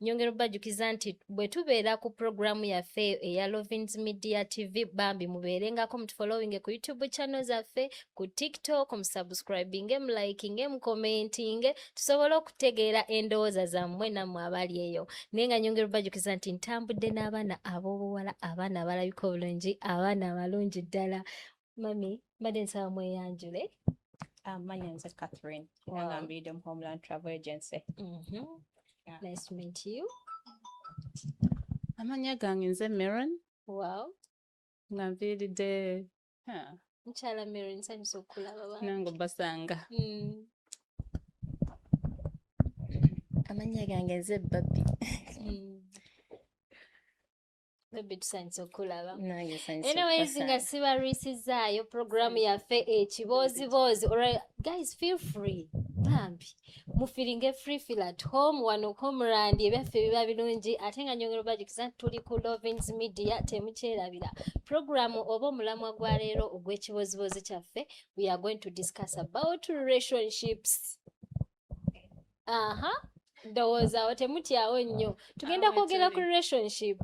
nyongera obajukiza nti bwe tubeera ku pulogulaamu yaffe eyo eya lovins media tv bambi mubeerengako mutufollowinge ku youtube channel zaffe ku tiktok musubscribinge mulikinge mukomentinge tusobole okutegeera endowooza zammwe nammwe abali eyo naye nga nyongera obajukiza nti ntambudde n'abaana ab'obuwala abaana abalabika obulungi abaana abalungi ddala mami mbadde nsaba mweyanjule amanya ah, nze catherine era nga mbiidde mu homeland travel agency mhm. nice to meet you amanya gange nze maron wow nga nviiridde mukyala maron nsanyusa okukulaba nange obasanga mm. amanya gange nze babi mm. anyways nga sibalwisizaayo programu yaffe ekibooziboozi olwal guys feel free bambi mufiringe free feel at home wano komrandi ebyaffe biba birungi ate nga nyongera obajukiza nti tuli ku lovins media temukyerabira programu oba omulamwa gwa leero ogw'ekibooziboozi kyaffe we are going to discuss about relationships aha ndowooza awo temutyawo nnyo tugenda kwogera ku relationship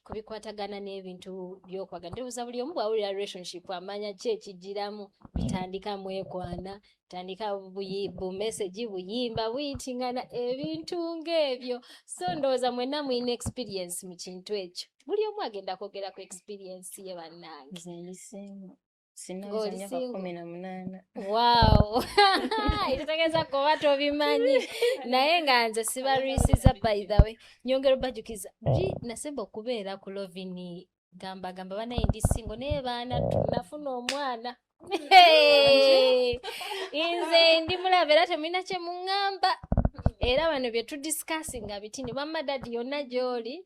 ku bikwatagana n'ebintu byokwagala ndowooza buli omu bwawulira relationship amanya ki ekijiramu bitandika mwekwana tandika bumesegi buyimba buyitingana ebintu ng'ebyo so ndowooza mwenna mulina experience mu kintu ekyo buli omu agenda kwogera ku experience ye bannange ekitegeeza kuba tobimanyi naye nga nze sibalwisiza by the way nyongera obajukiza li nasemba okubeera ku lovini gamba gamba banaye ndi singo naye baana tunafuna omwana nze ndi mulaba era temulina kyemuŋŋamba era bano bye tudiscassinga bitini bamma dadi yonna gy'oli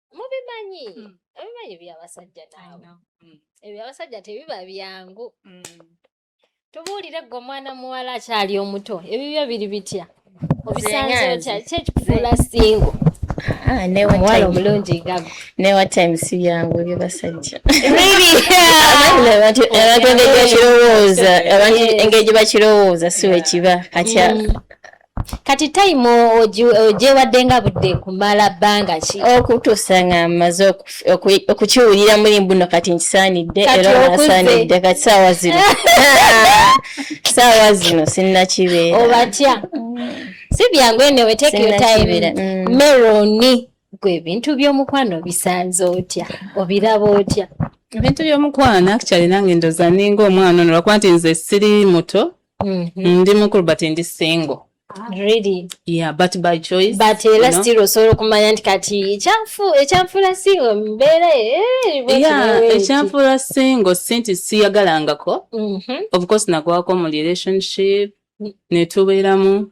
mubimanyi hmm. obimanyi ebyabasajja naawe hmm. ebyabasajja tebiba byangu hmm. tubuulire gwe omwana muwala akyali omuto ebibyo biri bitya obisanze otya kyekikufuula singo Ah, omuwala omulungi gago newa time si byangu ebyo basajja abantu engeri gye bakirowooza si wekiba katya mm. kati time ogyewadde nga budde kumala bbanga ki okutuusa nga maze okukiwulira muli mbuno kati nkisaanidde era nasaanidde kati saawa zino saawa zino sinnakibeera obatya si byangu enewe take your time mm. meroni gwe ebintu by'omukwano bisanze otya obiraba otya ebintu by'omukwano actually nange ndoza ninga omwana ono lwakuba nti nze siri muto Mm-hmm. ndi mukulu but ndi single really yeah but by choice but era eh, still osobola okumanya nti kati ekyanfu ekyanfula singo mbeera eh, yeah ekyanfula singo sinti siyagalangako mm-hmm. of course nagwako mu relationship mm. netubeeramu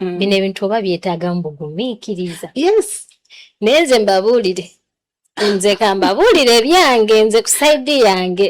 mm. bino ebintu oba byetaaga mu bugumiikiriza yes naye nze mbabuulire nze kambabuulire ebyange nze ku saidi yange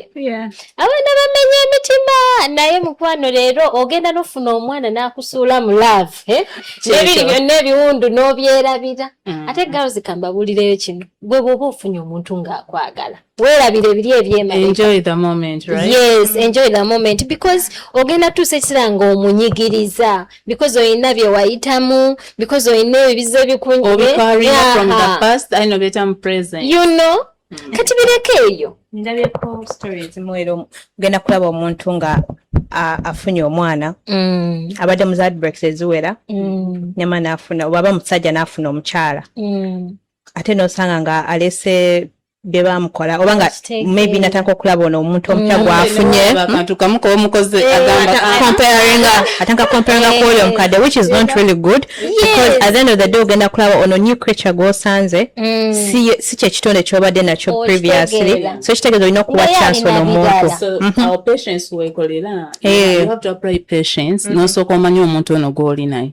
abaana bamenya emitima naye mukwano leero ogenda nofuna omwana nakusuula mu love eh? nebiri byonna ebiwundu nobyerabira mm. ate girls kambabuulireyo kino gwe bwoba ofunye omuntu ngaakwagala weerabira ebiri ebyemaebyemomenti mm. because ogenda tuusa ekisera nga omunyigiriza because olina byewayitamu because olina ebibizo ebikunjibeyouno mm. kati bireko eyo ndabyeko story ezimu era ogenda kulaba omuntu nga afunye omwana mm. abadde mu zadbreaks eziwera nyama nafuna oba aba musajja nafuna omukyala ate nosanga nga alese bye bamukola oba nga maybe natandika okulaba ono omuntu omupya mm. gwafunye akantu kamu komukoze eh, atandika comparinga eh. kwoyo omukadde which is not really good because at the end of the day ogenda kulaba ono new creature gwosanze mm. si kyekitonde kyobadde nakyo oh, previously so ekitegeeza olina okuwa chance ono omuntu mm-hmm. eh. nosooka omanya omuntu ono gwoli naye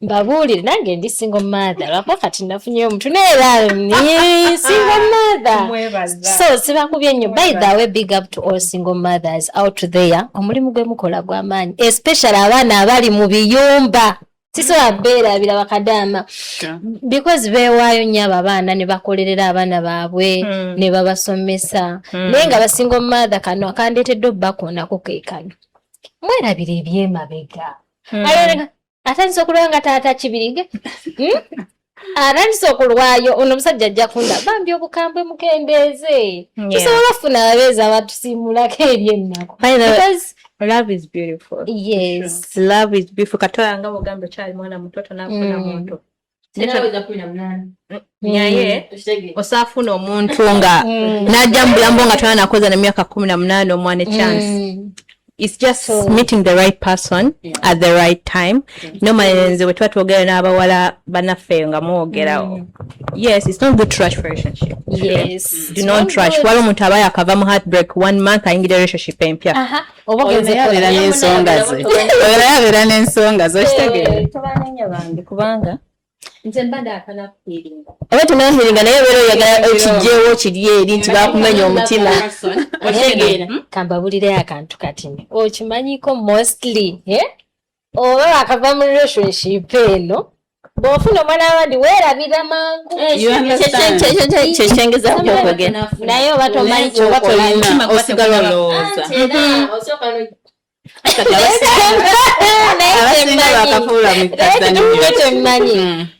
mbabuulire nange ndi single mother lwakuba kati nafunyeyo omuntu neera ni single mother so sibakubye ennyo by the way big up to all single mothers out there omulimu gwe mukola gwa maanyi especially abaana abali mu biyumba sisobola beerabira bakadaama because beewaayo nnyo abo abaana ne bakolerera abaana baabwe hmm. ne babasomesa hmm. naye nga basinga omumaatha kano akandeetedde obbakoonako keekano mwerabira ebyemabega hmm. atandise okulwa nga taata kibirige hmm? atandise okulwayo ono omusajja ajja kunda bambi obukambwe mukendeeze tusobola okufuna ababeezi abatusiimulako ebyennaku love is beautiful yes love is beautiful katoya nga bugamba okyali mwana mutoto nafuna mm. muntu naye mm. osaafuna omuntu nga mm. najja mu bulambo nga tona nakoza na myaka kumi na munaana omwana echance mm. its just so, meeting the right person yeah. at the right time yeah. normally nze bwe tuba twogera n'abawala banaffe eyo nga mwogera mm. yes it's not good to rush relationship yes. do not rush wali omuntu aba yakava mu heartbreak one month ayingira relationship empya uh -huh. oba ogenze yabeera n'ensonga ze oyo yabeera n'ensonga ze okitegeera eh, tobanenya bambi kubanga nze mbadde akana kufiiringa oba tunafiiringa naye obeera oyagala okijjeewo kiri eri nti bakumenya omutima otegeera hmm? kambabulire akantu katini okimanyiko mostly eh? oba bakava mu relationship eno bwofuna omwana wabandi werabira mangu kyekyengeza kukyokogera naye oba tomanyi kyokolanaosigala olowooza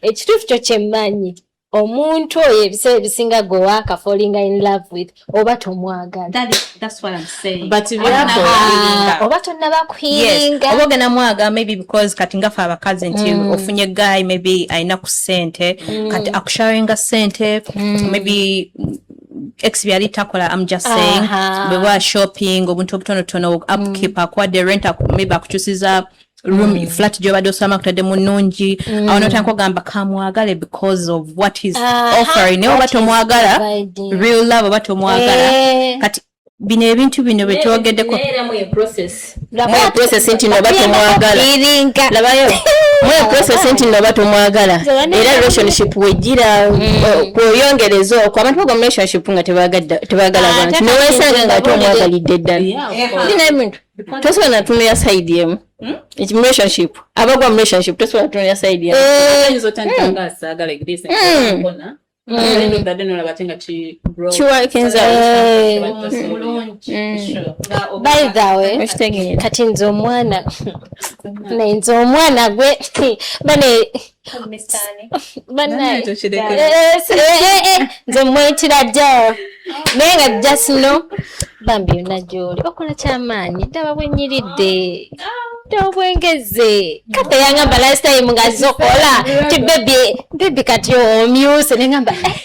ekituufu kyo kyemmanyi omuntu oyo ebiseera ebisinga gwe waaka falling in love with oba tomwagalaoba tonaba kuhiringa oba ogenda mwaga maybe because kati ngafe abakazi nti mm. ofunye guy maybe alina ku sente mm. kati akusharinga sente mm. maybe ex byali takola am just saying bwe wa shopping obuntu obutonotono upkeep mm. akwadde rent maybe akukyusiza room mm. flat gyobadde osulamu kutadde mu nnungi mm. awo notandika ogamba kamwagale because of what is uh, ah, offering naye oba tomwagala real love oba tomwagala eh. kati bino ebintu bino byetwogeddeko process nti noba tomwagala labayo mwe process nti noba tomwagala era relationship wejira mm. uh, kweyongereza okwo abantu bagwa mu relationship nga tebagala ah, bantu newesanga nga ate omwagalidde ddala tosobola natunulira side emu hmm? relationship abagwa mu relationship tosobola natunulira side emu kati nze omwana nze omwana gwe bane nze mwetira jaa naye nga jasino bambi yona gyoli okola kyamaanyi ddaba bwenyiridde tobwengeze kata yangamba last time nga zokola ti bebi bebi kati omyuse nengamba eh.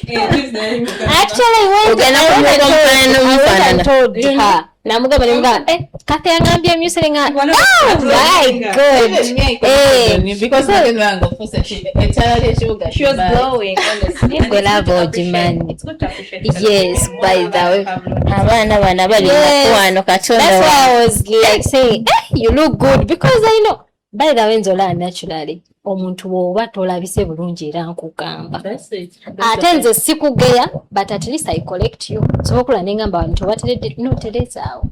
actually namugamba nemugamba eh, kati yangambye emyusire nga oh abaana bana bali mukwano katonda By the way nzola naturally omuntu woba tolabise bulungi era nkugamba ate nze sikugeya but at least i collect you sobokula nengamba bantu obateredde noterezaawo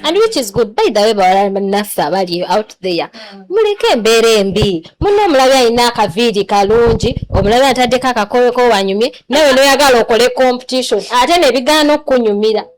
and which is good by the way bawalanaffe abali out there mm. muleke embeera embi muna omulabi alina akaviiri kalungi omulabi ataddeko akakoyoko wanyumye nawe noyagala okole competition ate nebigaana okukunyumira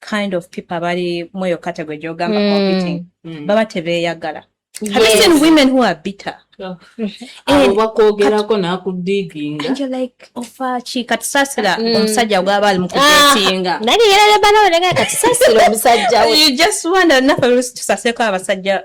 kind of people abali mweyo category gyogamba mm. competing mm. baba tebeyagala yes. have you seen women who are bitter oh. eh, bakwogerako nakudiginga like ofa ki katusasira mm. omusajja gwaba ali mukutetinga ah, naye yerarebanawe nega katusasira omusajja we you just wonder nafe tusaseko abasajja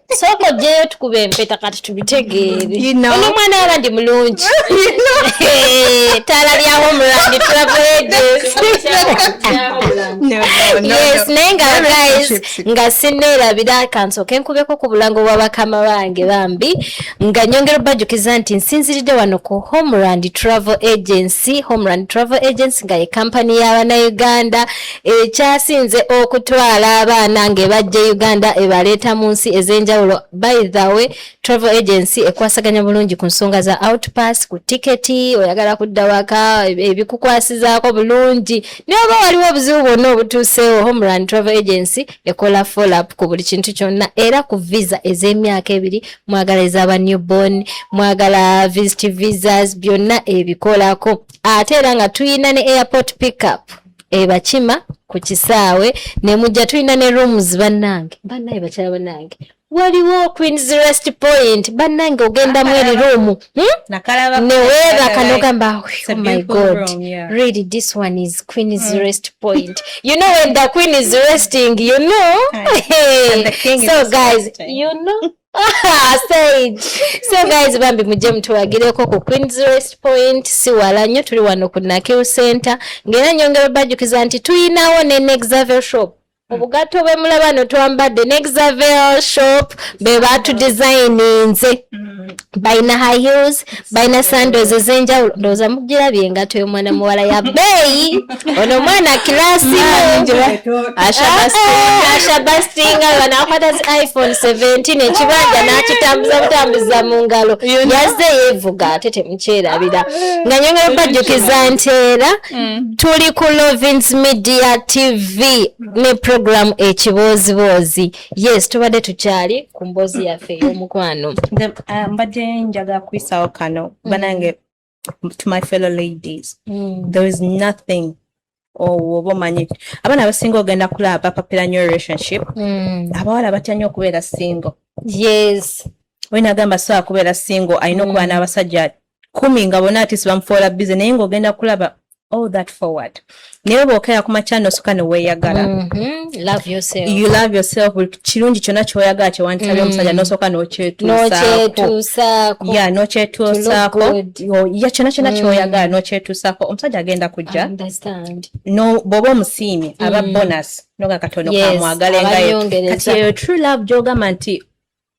sooka ojjeyo tukuba empeta kati tubitegeere ono omwana waba ndi mulungi taala lya homeland traveages yes naye nga guys nga sineerabira kansooke nkubeko ku bulango bwa bakama bange bambi nga nyongera obajukiza nti nsinziridde wano ku homeland travel agency homeland travel agency nga ye kampani y'abanauganda ekyasinze okutwala abaana ng'ebajja e uganda ebaleeta mu nsi ez'enjawulo by the way travel agency ekwasaganya bulungi ku nsonga za outpass ku tiketi oyagala kudda waka ebikukwasizaako bulungi naye oba waliwo obuzibu bwonna obutuuseewo homeland travel agency ekola follup ku buli kintu kyonna era ku visa ez'emyaka ebiri mwagala ezaba newborn mwagala visit visas byonna ebikolako ate era nga tuyina ne airport pickup ebakima ku kisaawe ne mujja tulina ne rooms bannange bannaye bakyala bannange waliwo queens rest point bannange ogendamu eri roomu hmm? neweebaka nogamba oh my god really this one is queens mm. rest point you know when the queen is resting you know so guys you know stage so guys bambi mujje mutuwagireko ku queens rest point si wala nnyo tuli wano ku nakiw center ngaera nyongera obajukiza nti tuyinawo ne nexavel shop obugatto bwe mulaba no twambadde nexavel shop be batudesigninze mm. balina high heels balina sandoz ezenjawulo ndowooza mugirabye engato y'omwana muwala ya beeyi ono omwana kilasi ashabastinga ah, banakwata zi iphone 17 ekibanja nakitambuza butambuza mu ngalo yazze yevuga ate temukyerabira nga nyongera bajjukiza nti era mm. tuli ku lovins media tv ne programu ekibooziboozi yes tubadde tukyali ku mboozi yaffe ey'omukwano uh, mbadde njagala kuyisawo kano mm. banange to my fellow ladies mm. there is nothing owoba oh, omanyi abaana abasinga ogenda kulaba bapapira nyo relationship mm. abawala batya nyo okubeera single yes olina agamba soa kubeera single alina okuba n'abasajja kumi nga bona ati sibamufoola bize naye ngaogenda kulaba all that forward naye bwokera ku makyano osuka neweyagala mm -hmm. you love yourself kirungi kyona kyoyagala kyewanditabya mm. omusajja nosoka nokyetusaako ya nokyetusaako ya kyona kyona mm. kyoyagala nokyetusaako omusajja agenda kujja no bwoba omusiimye aba mm. bonus noga katono yes, kamwagale ngaye kati eyo true love gyogamba nti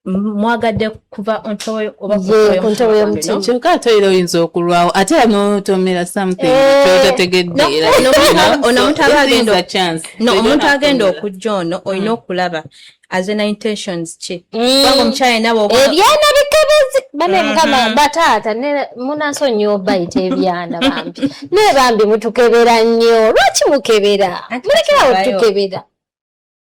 mwagadde kuva ontoweyokuntebe yomutima kyokka ate era oyinza okulwawo ate era notomera somethingnomuntu agenda okujja ono olina mm. okulaba azena intentions ki mm. omukyala nawe ebyana bikebezi bane mm-hmm. mukama bataata munanso nyo bayita ebyana bambi naye bambi mutukebera nnyo lwaki mukebera mulekerawo tukebera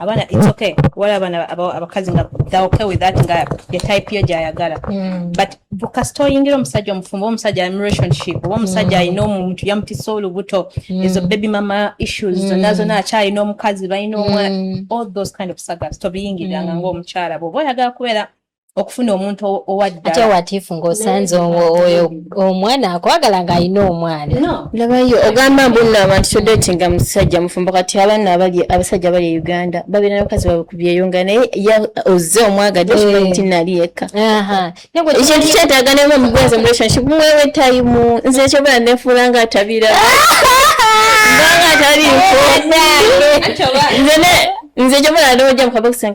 abaana it's okay wala abaana abakazi nga they okay with that nga ye type yo gyayagala hmm. but kasita oyingira omusajja omufumbo oba omusajja ali relationship oba omusajja hmm. alina omuntu yamutisa olubuto hmm. ezo baby mama issues zonna zonna akyalina omukazi balina omwana all those kind of sagas tobiyingiranga ngaomukyala bwoba oyagala kubeera okufuna omuntu owaddate watifu ngaosanze oyo omwana akwagala nga alina omwana nabayo ogamba mbuno abantu todetinga musajja mufumbo kati abaana abali abasajja abali e uganda babeera nabakozi babe kubyeyunga naye ya ozze omwagadde kibati eh. nali yekka ekintu kyetaaga nema mugwenze mu relationship mwewe tayimu nze ekyobera nefuula nga atabira nze nze jomala ndowoja mukabokisa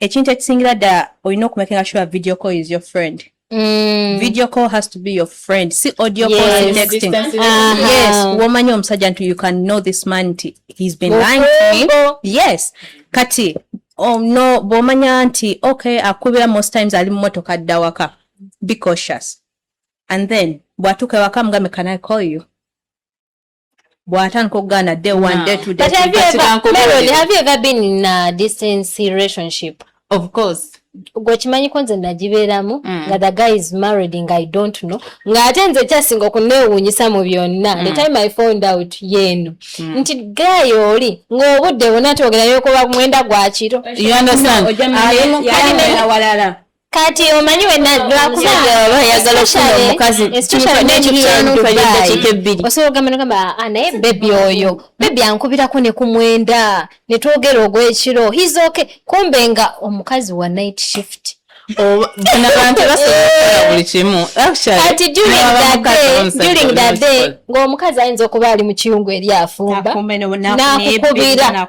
ekintu ekisingira ddala olina okumakinga sure video call is your friend Mm. video call has to be your friend si audio yes. call si texting uh -huh. yes womanya omusajja nti you can know this man nti he's been lying to me yes kati oh, no bwomanya nti okay akubira most times ali mumotoka adda waka be cautious and then bwatuuka ewaka mugambe can i call you bwatandika okugaana day one day two day but have you ever Melody have you ever been in a distance relationship of course gwe kimanyiko nze nagibeeramu mm. nga the guy is married nga i don't know nga ate nze kyasinga okunewunyisa mu byonna mm. the time i found out yeeno mm. nti guy oli ng'obudde bwona twogerayo okuba mwenda gwakiro you understand kati omanyi wenaomukaziokyosobola ogamba nogamba ah, naye bebi oyo bebi ankubirako ne ku mwenda ne twogera ogw'ekiro his okay kumbe nga omukazi wa night shift ng'omukazi ayinza okuba ali mu kiyungu eri afumba nakukubira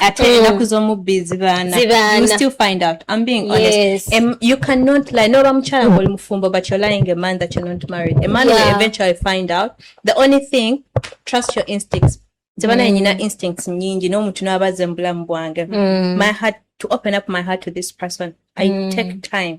ate mm. enaku zomubbi zibaanazibaanayu cannot lie noba mukyala ngoli mufumbo but you're lying a man that you're not married a man yeah. will eventually find out the only thing trust your instincts zibana mm. nyina instincts nyingi n'omuntu n'abaze mu bulamu bwange mm. my heart to open up my heart to this person i mm. take time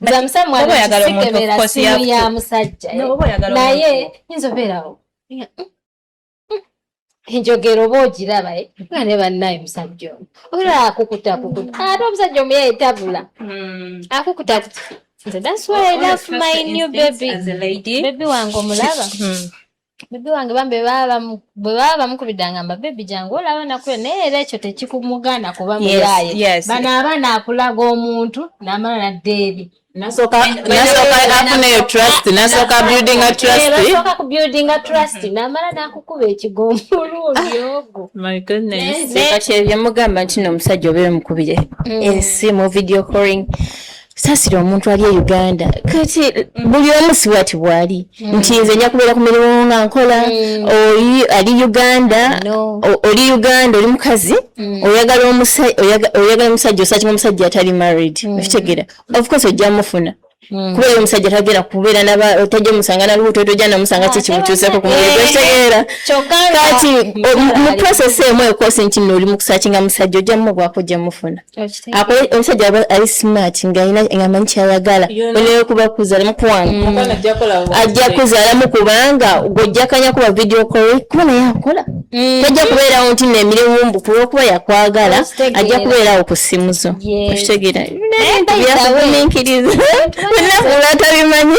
nze amusamwanakisikebera simu ya musajja naye nyinza obeerawo enjogera oba ogiraba eh? nga ne bannaye musajja omu obeera akukuta akukuta ate omusajja omu yeetabula hmm. akukuta akukuta nze that's why i love my new baby baby wange omulaba hmm. bebi wange bambi bwe baba bamukubidde angamba bebi jangu olaba nakule naye era ekyo tekikumugana kuba muyaye bano abaana akulaga omuntu namala nadda eri nasooka kubuildinga trust namala nakukuba ekigomulundi ogwo kati ebyemugamba nti no omusajja obeere mukubire mm. ensi mu video coring sasira omuntu ali e uganda kati buli omu sibwati bwali mm. nti nze nja kubeera ku mirimu nga nkola mm. oli ali uganda oli uganda oli mukazi mm. oyagala omusajja osakima omusajja atali married okitegera ofcourse ojja mufuna Hmm. kuba eyo omusajja tagera kubeera tajja omusanga nalubuto tojja namusanga ah, kikimutuuseko kumwetegeera kati mu process emu ekosi nti nno oli mukusakinga musajja ojja mumugwako ojja mufuna omusajja aba ali smart ngaamanyi kyayagala oneyokubakuzalamu kuwana mm. ajja kuzalamu kubanga gwojjakanya kuba video call kuba naye akola mm. tajja kubeerawo nti nemirimu mbu kulwokuba yakwagala ajja kubeerawo ku simu zo okitegeera byakuguminkiriza nafula tabimanyi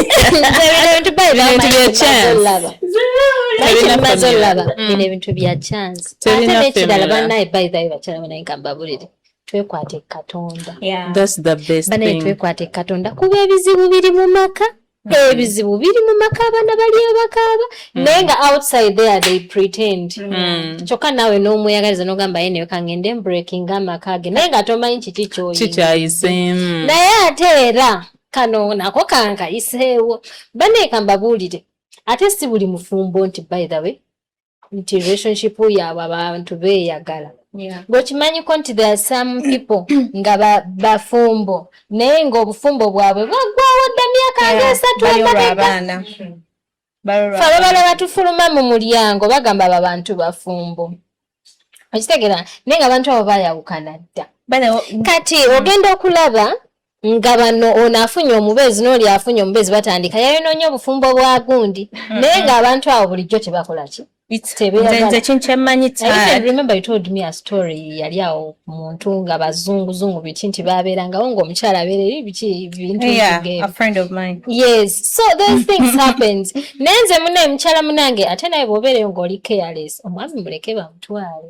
ebintu bya chance twekwate katonda banaye twekwate katonda kuba ebizibu biri mu maka mm-hmm. ebizibu biri mu maka abaana baliyo bakaaba mm. naye nga outside there they pretend mm. kyokka naawe n'omweyagaliza n'ogamba ye neyo kangende mbreaking amaka ge naye nga tomanyi kiki kyoyikyayiseemu mm. naye ate era kano nako kankayiseewo banaye kambabuulire ate si buli mufumbo nti by the way nti relationship yaabwe abantu beeyagala ng'okimanyiko nti there some people nga bafumbo naye ng'obufumbo bwabwe bwaggwawo dda myaka nga esatu emabega fe ababala batufuluma mu mulyango bagamba abo abantu bafumbo okitegera naye nga abantu abo bayawukana dda kati ogenda okulaba nga bano ono afunye omubeezi n'oli afunye omubeezi batandika yayonoonya obufumbo bwa gundi mm-hmm. naye ng'abantu abo bulijjo tebakola ki yali awo muntu nga bazunguzungu biki nti babeerangawo ngaomukyala abeera eri biki bintu yes so those things happened naye nze muna mukyala munange ate naye bwobeereyo ng'oli careless omwami muleke bamutwale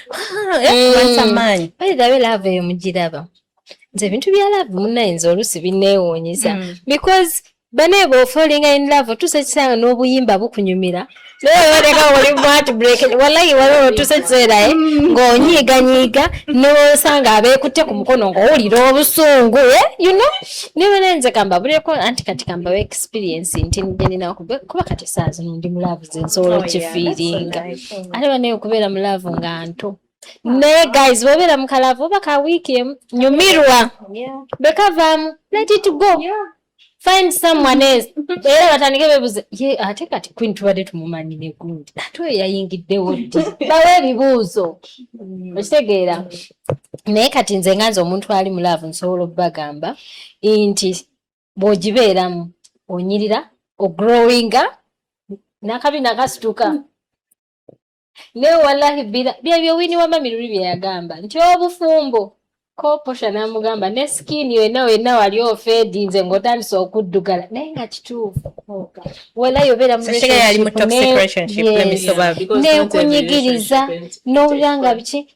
mugiraba nze ebintu bya laavu munaye nze oluusi bineewuunyisa mm. because bane bwofalinga in love otuusa ekiseera n'obuyimba bukunyumira nayeoleka oli mwatbreak walayi waliwo otuusa ekiseera eh, mm. ng'onyiiganyiiga nosanga abeekutte ku mukono ng'owulira obusungu eh, you know niwenenze kamba buleko anti kati kamba wa experience nti njeninakuba kati esaazi nondi mulaavu zensobola oh, okifiiringa mm. ate banaye okubeera mu laavu nga nto naye guys bwobeera mu kalaavu oba ka wiiki emu nyumirwa bekavaamu let it go find someone else era batandike bebuze ye ate kati queen tubadde tumumanyi ne gundi ate oyo yayingiddewo ddi bawe ebibuuzo mm. okitegeera naye kati nze nga nze omuntu ali mu laavu nsobola okubagamba nti bw'ogibeeramu onyirira ogrowinga nakabi nakasituka naye wallahi bila byebyo wini wa mami luli byeyagamba nti obufumbo koposha namugamba ne skin yena wena wali ofedinze ngotandise okuddugala naye nga kituufu walayi obeera munekunyigiriza nowulira nga biki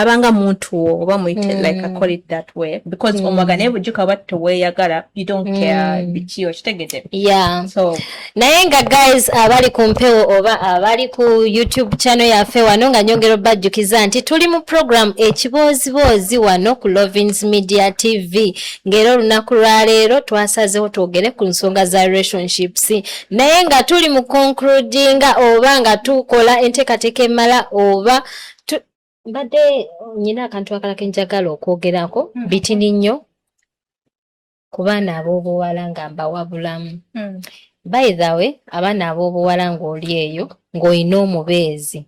abanga muntu wo oba muyite mm. like I call it that way because mm. omwaga naye bujjuka oba teweyagala you don't mm. care biki okitegede yeah. so naye nga guys abali ku mpewo oba abali ku youtube channel yaffe wano nga nyongera obajjukiza nti tuli mu program ekibooziboozi wano ku lovins media tv ng'era olunaku lwaleero twasazewo twogere ku nsonga za relationships naye nga tuli mu concludinga oba nga tukola enteekateeka emala oba mbadde nyina akantu akala ke njagala okwogerako mm. bitini nnyo ku baana ab'obuwala nga mbawabulamu mm. by the way abaana ab'obuwala ng'oli eyo ng'olina omubeezi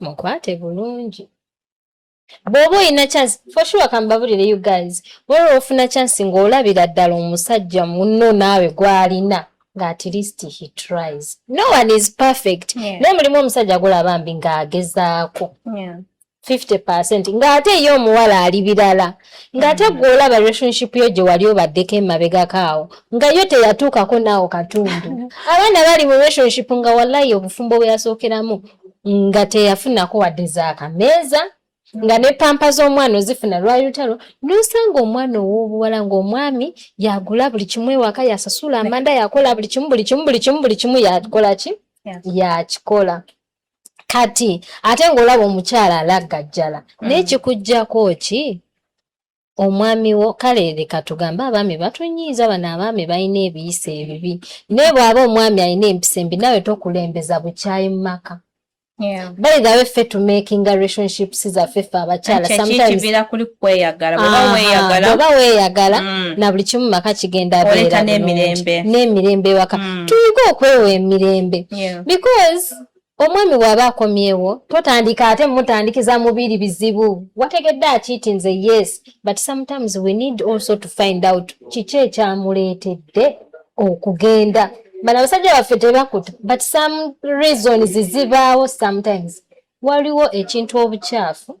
mukwate bulungi bw'oba olina chance for sure kambabulire you guys bwolwa ofuna chance ng'olabira ddala omusajja munno naawe gw'alina nga at least he tries no one is perfect yeah. naye mulimu omusajja agula bambi ng'agezaako yeah. 50 percent ng'ate ye omuwala ali birala ng'ate mm. gwe olaba relationship yo gye wali obaddeko emabegako awo nga yo teyatuukako naawo katundu abaana bali mu relationship nga wallayi obufumbo bwe yasookeramu nga teyafunako wadde zaakameeza nga ne pampa z'omwana ozifuna lwali lutalo nosanga omwana ow'obuwala ng'omwami yagula buli kimu ewaka yasasula amanda yakola buli kimu buli kimu buli kimu buli kimu yakola ki yakikola kati ate ng'olaba omukyala alaggajjala mm. naye kikuggyako ki omwami wo kale leka tugambe abaami batunyiiza bano abaami balina ebiyisa ebibi naye bw'aba omwami alina empisa embi nawe tokulembeza bukyayi mu maka by the way ffe to making relationships zaffe ffe abakyala sometimes kuli kweyagala baba weyagala baba weyagala mm. na buli kimu maka kigenda beera n'emirembe n'emirembe waka mm. tuyiga okwewa emirembe because Omwami bw'aba akomyewo totandika ate mutandikiza mubiri bizibu wategedde akiiti nze yes but sometimes we need also to find out kiki ekyamuleetedde okugenda bano abasajja baffe tebakuta but some reasons zibaawo sometimes waliwo ekintu obukyafu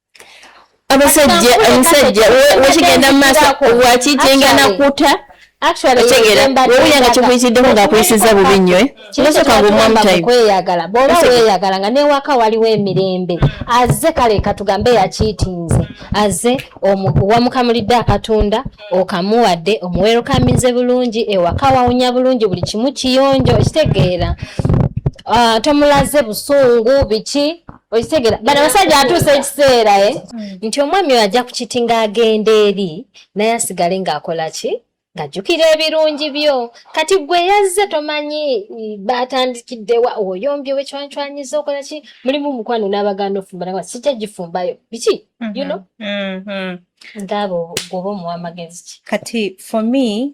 abasajja omusajja wekigenda mu maaso wakijinga nakuta wewuyanga kikuyitiddeko ngaakuyisiza bubi nnyo eh? kinosoka ngaomwamutayokweyagala bwoba weyagala nga newaka waliwo emirembe aze kale katugambe yakiitinze aze wamukamulidde akatunda okamuwadde omuwerokamize bulungi ewaka wawunya bulungi buli kimu kiyonjo okitegeera ah, tomulaze busungu biki okitegera bano abasajja atuusa ekiseera e nti omwami oyo ajja kukiti ng'agenda eri naye asigale ng'akola ki ng'ajjukira ebirungi byo kati gwe yazze tomanyi baatandikiddewa oyombye wekywancwanyiza okola ki mulimu mukwano n'abagaana ofumbanawa sijja gifumbayo biki mhm, yuno mhm. ng'abo gwoba omuwa amagezi ki kati for me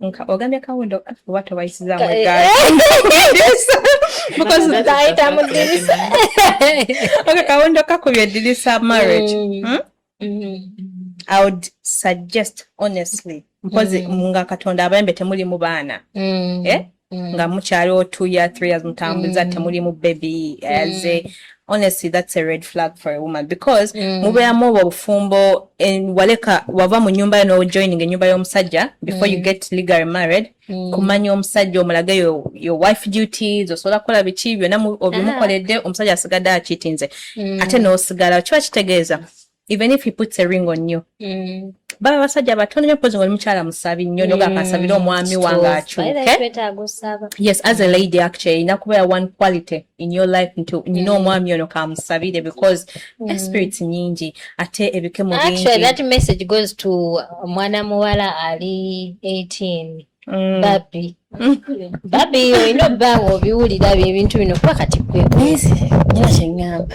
nka ogambye kawundo oba towayisizamu egaayita mu ddirisa oka kawundo kakubye eddirisa marriage mm. hmm? mm-hmm. i would suggest honestly mpozi mm. nga katonda abayembe temulimu baana mm. eh? mm. nga mukyaliwo two year three years mutambuza mm. temulimu baby as a mm. honestly that's a red flag for a woman because mm. mubeeramu obwo obufumbo waleka wava mu nyumba yo nojoining enyumba y'omusajja before mm. you get legally married mm. kumanya omusajja omulage yo, your wife duties osobola kukola biki byonna obimukoledde ah. omusajja asigadde akitinze mm. ate n'osigala kiba kitegeeza even if he puts a ring on you mm. baba abasajja batono nyo mpozi ngoli mukyala musabi nnyo mm. nogamba nsabire omwami wange akyuke yes as a mm. lady actually erina kubeera one quality in your life nti nyina mm. omwami ono kamusabire because mm. espirits nyingi ate ebike mu bingi that message goes to mwana muwala ali 18 Mm. babi babi olina obbanga obiwulira byo ebintu bino kuba kati kwe naye kyeŋŋamba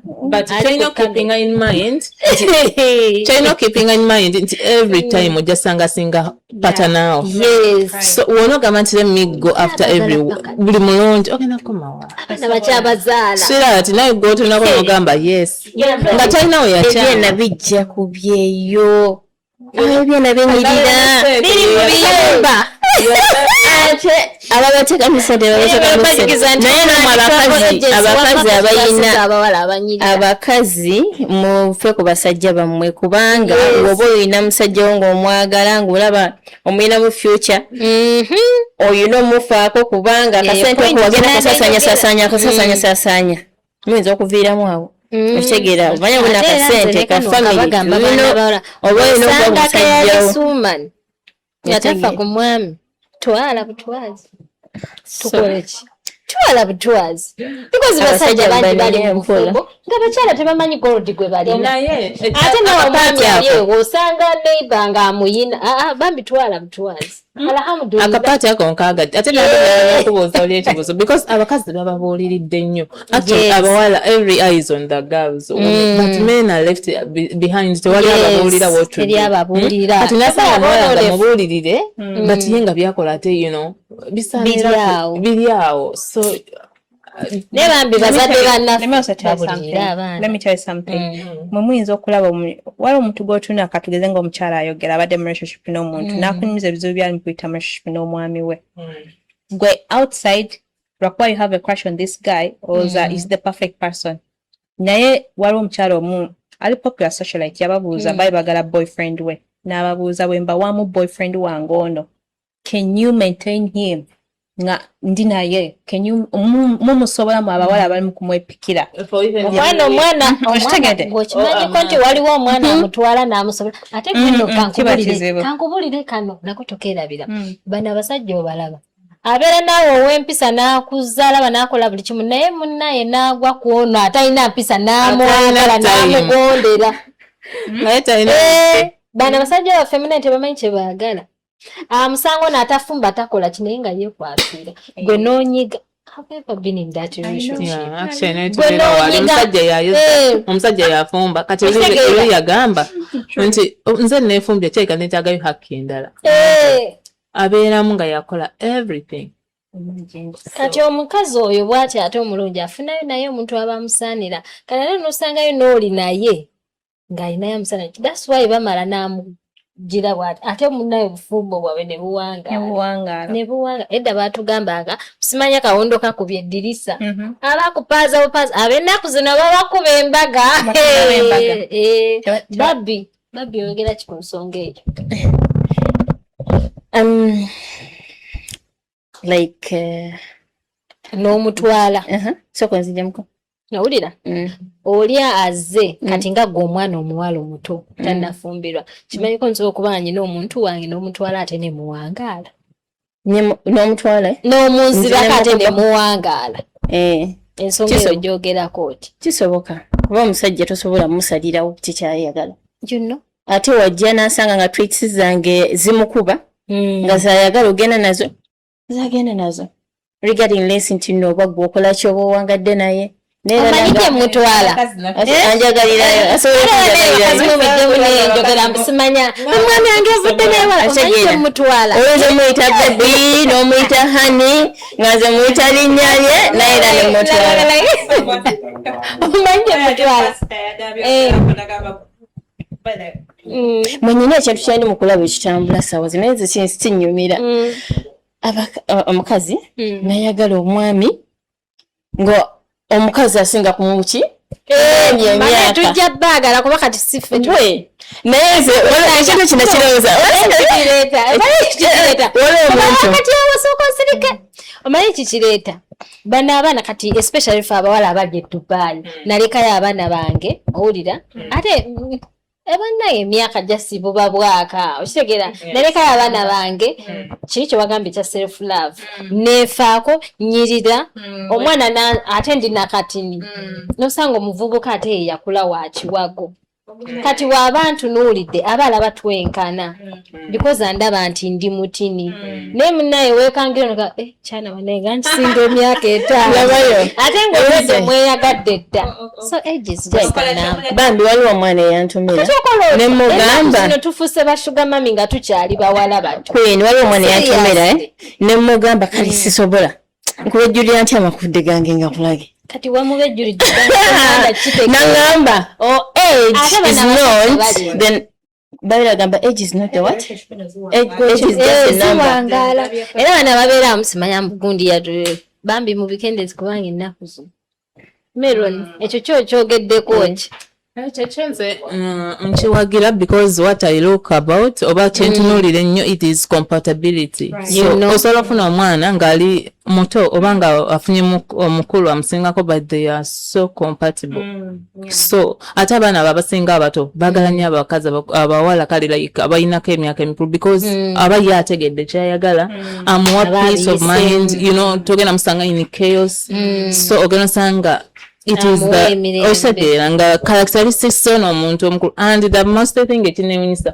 but kyolina okukipinga in mind kyolina okukipinga in mind nti every mm. time ojja sanga singa patanaawo so wona ogamba nti let me go after every buli mulungi ogenda kukomawaaswira ti naye gwotonako nogamba yes nga talinawo yakyana bijja kubyeyo ebyo nabinyirira biri mu biyumba ate ababatekamisa tebabatekamisa naye namwe abakazi abakazi abayina abakazi mufe ku basajja bammwe kubanga woba oyina musajja wo ngaomwagala ngaolaba omuyina mu future mm-hmm. oyina omufaako kubanga akasente okuwagenda kasasanya sasanya kasasanya sasanya muyinza okuviiramu awo mm. okitegeera omanya buna kasente ka familyobawolina omusajjawo nga tafa ku mwami twala butwazi tukoleki twala butwazi because basajja bangi bali mumufumbo nga bakyala tebamanyi gold gwe balina ate nawe omwami ali ewo osanga neiba nga amuyina ah, ah, bambi twala butwazi Hmm? akapaati ako nkagadde ate nakubuuza oli ekibuzo because abakazi bababuuliridde nnyo actually abawala every eyes on the girls hmm. but men are left behind tewali ababuulira wotuliababuulirati hmm? nasaba omuwala nga mubuulirire but ye nga byakola ate you know bisaanira biri awo so naye bambi bazadde bannafemwe muyinza okulaba waliwo omuntu gwotuna katugeze nga omukyala ayogera abadde mu relationship n'omuntu mm. nakunyumiza ebizibu byali mukuyita mu relationship n'omwami we mm. gwe outside lwakuba you have a crush on this guy oza mm. is the perfect person naye waliwo omukyala omu ali popular socialite yababuuza bali bagala boyfriend we n'ababuuza bwemba wamu boyfriend wange ono can you maintain him nga ndi naye mumusobola mu abawala mm. abalimu kumwepikira omwana omwana okitegedeko oh, nti waliwo omwana mm-hmm. amutwala namusobola ate kino mm-hmm. kankubulire kano nako tokerabira mm. bano abasajja obalaba abeera naawe ow'empisa n'akuzaalaba n'akola buli kimu naye munnaye n'agwa ku ono atalina mpisa n'amwagala n'amugondera hmm? eh, bano abasajja baffe munnaye tebamanyi kye baagala ah, musango natafumba takola kinaye nga yekwasira eh. gwe nonyiga omusajja yafumba kati olu yagamba nti oh, nze nefumbye kyeka nekyagayo hakki endala eh. abeeramu nga yakola everything kati omukazi oyo bwati ate omulungi afunayo naye omuntu aba amusaanira kati ate nosangayo nooli naye ng'alinayo omusana nti that's why bamala n'amugira bwati ate munaye obufumbo bwabwe ne buwangaala ne buwanga edda baatugambanga simanya kawondo kakubye eddirisa mhm. abakupaaza bupaaza ab'ennaku zino babakuba embaga eh, babbi babbi oyogera ki ku nsonga eyo um, like uh, n'omutwala uh -huh. soka nzijamuko nawulira mm. oli aze mm. kati nga gwe omwana omuwala omuto mm. tanafumbirwa kimanyiko nsobola okuba nyina omuntu wange n'omutwala ate ne muwangaala n'omutwala eh? n'omunzirako ate ne muwangaala eh. ensonga eyo gyogerako oti kisoboka kuba omusajja tosobola musalirawo kikyayagala you know ate wajja nasanga nga tweets zange zimukuba mm. nga zayagala ogenda nazo zagenda nazo regarding less nti no oba gwe okola kyoba owangadde naye nomuyita hani nga nze muyita linyalye naye era nemutwala Mm. mwenyini ekintu kyali mukulaba ekitambula sawa zino ezo kinsi kinyumira mm. omukazi mm. nayagala omwami nga omukazi asinga kumuki eh, tujja bagala kuba kati sife naye nze ekintu kino kirowooza omanyi kikireeta bano abaana kati especially fe abawala abali e dubai hmm. nalekayo abaana bange owulira hmm. ate ebanaye eh, emyaka jasi buba bwaka okitegeera hmm. nalekayo abaana bange kiri kyewagambye ekya self love nefaako nyirira omwana ate ndi nakatini nosanga omuvubuka ate yeyakula wakiwago kati waaba ntunuulidde aba alaba twenkana mm. because andaba nti ndi mutini mm. naye munaye wekangira noga eh, kyana banaye nga nkisinga emyaka etaanoabayo ate ngaoedde mweyagadde dda oh, oh, oh. so ages bambi waliwo omwana eyantumira nemugamba tufuse bashuga mami nga tukyali bawala bato waliwo omwana eyantumira eh? nemugamba kale mm. sisobola nkubejjulira ntya amakudde gange nga kulage kati wamubejjulidde nangamba oh, babira gamba age is not a what era bana babeera amusimanya mugundi yatu bambi mubikendezi kubanga ennaku zino Meron, mm. ekyo kyo kyogeddeko eh. ki? Eh, kyekyo nze mm, nkiwagira because what i look about oba mm. kyentunuulira ennyo it is compatibility osobola ofuna omwana ng'ali muto oba nga afunye omukulu amusingako but they are so compatible so ate abaana abo abasinga abato bagala nyo abakazi abawala kale like abalinako emyaka emikulu because mm. aba ye ategedde kyayagala mm. amuwa peace of mind you know togenda musanga in chaos mm. so ogenda osanga it is the osateera nga characteristics ono omuntu omukulu and the most thing ekinewunyisa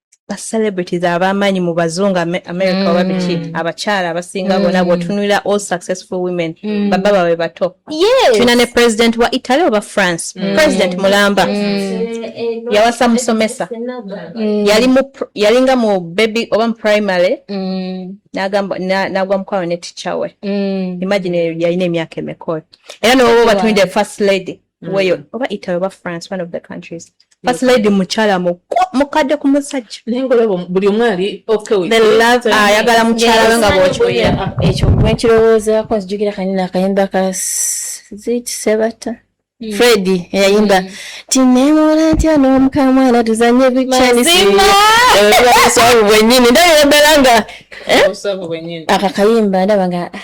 ba celebrities abamaanyi mu bazungu Ame- america oba biki Mm. abakyala abasinga Mm. bona bwotunulira all successful women Mm. baba bawe bato Yes. tulina ne president wa italy oba france Mm. president mulamba Mm. yawasa musomesa Mm. yali mu pr- yali nga mu baby oba mu primary Mm. n'agamba- na- n'agwa mukwano ne teacher we Mm. imagine yalina emyaka emeka oyo era nowoba obatunulira first lady mm. weyo oba italy oba france one of the countries first lady mukyala mukadde ku musajja naye ngaolaba buli omu ali ayagala mukyala we nga bwokiwulira ekyo bwenkirowoozaako nzijukira kanyina akayimba ka ziti sebata Mm. Freddy yayimba mm. tinewola ntya n'omukamwa era tuzanye bikyanisaabu bwenyini ndabira ddala nga eh? akakayimba ndaba nga ah,